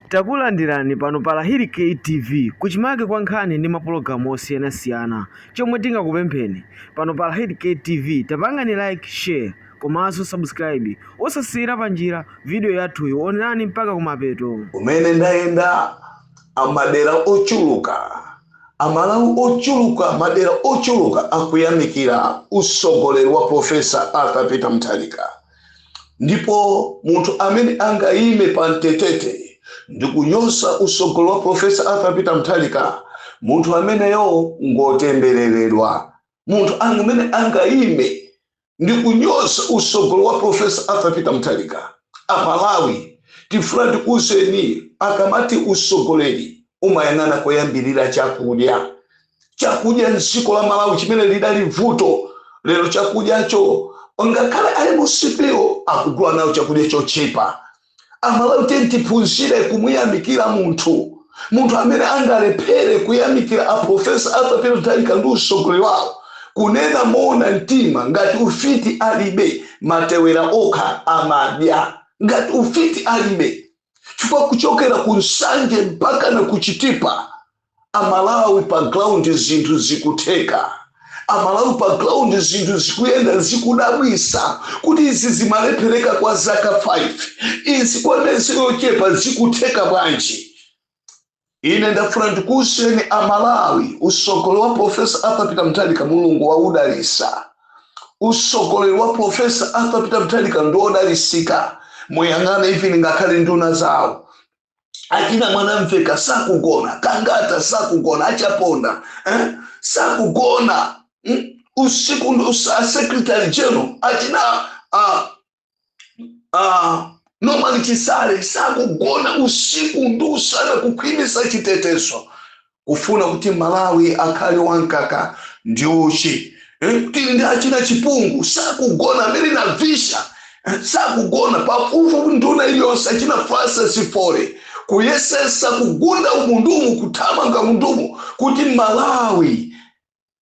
Takulandirani pano pa Lahiri K TV kuchimake kwa nkhani ndi mapologalamu osiyanasiyana. Chomwe tingakupempheni, pano pa Lahiri K TV tapangani like, share komanso subscribe. Osasiyira panjira video yathuyo, onerani mpaka kumapeto. Kumene ndayenda amadera ochuluka amalawi ochuluka madera ochuluka akuyamikira usogoleri wa professor arthur peter mutharika ndipo munthu amene angayime pa mtetete ndi kunyoza usogoleri wa profesa arthur peter mutharika munthu ameneyo ngotembereredwa munthu amene angayime ndi kunyoza usogoleri wa profesa arthur peter mutharika amalawi tifuna tikuuzeni akamati usogoleri umayang'ana koyambirira chakudya chakudya mdziko la malawi chimene lidali vuto lero chakudyacho ngakhale a MCP-wo akugula nawo chakudya chochipa amalawi tiyeni tiphunzire kumuyamikira munthu munthu amene angalephere kuyamikira aprofesa arthur peter mutharika ndi usogoleri wawo kunena moona mtima ngati ufiti alibe matewera okha amadya ngati ufiti alibe chifukwa kuchokera ku nsanje mpaka na kuchitipa Amalawi pa ground zinthu zikutheka, amalawi pa ground zinthu zikuyenda, zikudabwisa kuti izi zimalepheleka kwa zaka 5 izi kwa miyezi yochepa zikutheka bwanji? Ine ndafuna ndikuwuzeni amalawi usogoleri wa Prof. Arthur Peter Mutharika Mulungu wawudalisa, usogoleri wa Prof. Arthur Peter Mutharika ndiwodalisika muyang'ane even ngakhale nduna zawo achina mwanamvekha sakugona a gangata sakugona achaponda eh? sakugona mm? usiku ndi usa- secretary general achina uh, uh, norman chisale sakugona usiku ndi usana kukhwimisa chitetezo kufuna kuti malawi akhale wamkaka ndi uchi Eh, tili ndi achina chipungu sakugona a mary navicha eh, sakugona pafupifupi nduna iliyonse achina francis folley kuyesesa kugunda umu ndi umu kuthamanga umu ndi umu kuti malawi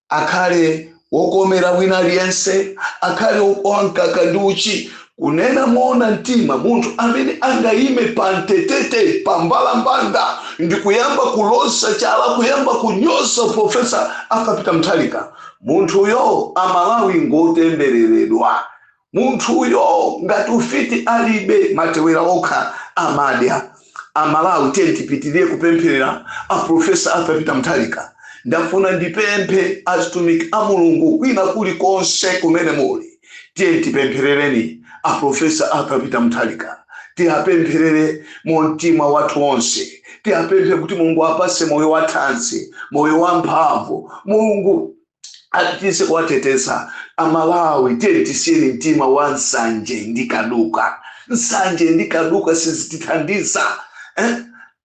akhale wokomera wina aliyense, akhale wa mkaka ndi uchi. Kunena moona mtima, munthu amene angayime pa mtetete, pa mbalambanda ndi kuyamba kuloza chala, kuyamba kunyoza Profesa Arthur Peter Mutharika, munthuyo Amalawi ngotembereredwa. Munthuyo ngati ufiti alibe matewera okha amadya. A Malawi tiyeni tipitilire kupemphelera a Professor Arthur Peter Mutharika. Ndafuna ndipemphe azitumiki a Mulungu kwina kuli konse kumene muli tiyeni tipemphelereni a Professor Arthur Peter Mutharika. Tiapemphelere mumtima wathu onse. Tiapemphere kuti Mulungu awapatse moyo wathanzi, moyo wamphamvu. Mulungu apitilize kuwateteza amalawi tiye tisiyeni mtima wa nsanje ndi kaduka nsanje ndi kaduka sizitithandiza eh?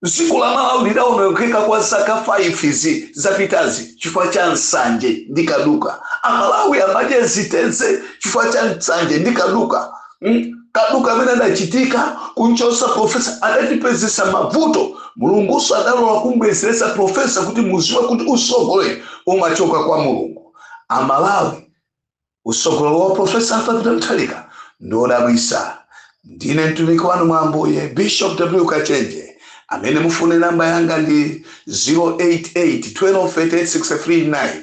dziko la malawi lidaonongeka kwa zaka 5 izi zapitazi chifukwa cha nsanje ndi kaduka amalawi amadya ziteze chifukwa cha nsanje ndi kaduka mm, kaduka amene adachitika kunchosa profesa adatipezesa mavuto mulunguso adalola kumbwezeretsa profesa kuti muziwe kuti usogoleri umachoka kwa mulungu amalawi usogoleri wa profesa Arthur Peter Mutharika ndodabwisa ndine mtumiki wanu mwa ambuye bishop w kachenje amene mufune namba yanga ndi 088 1238 639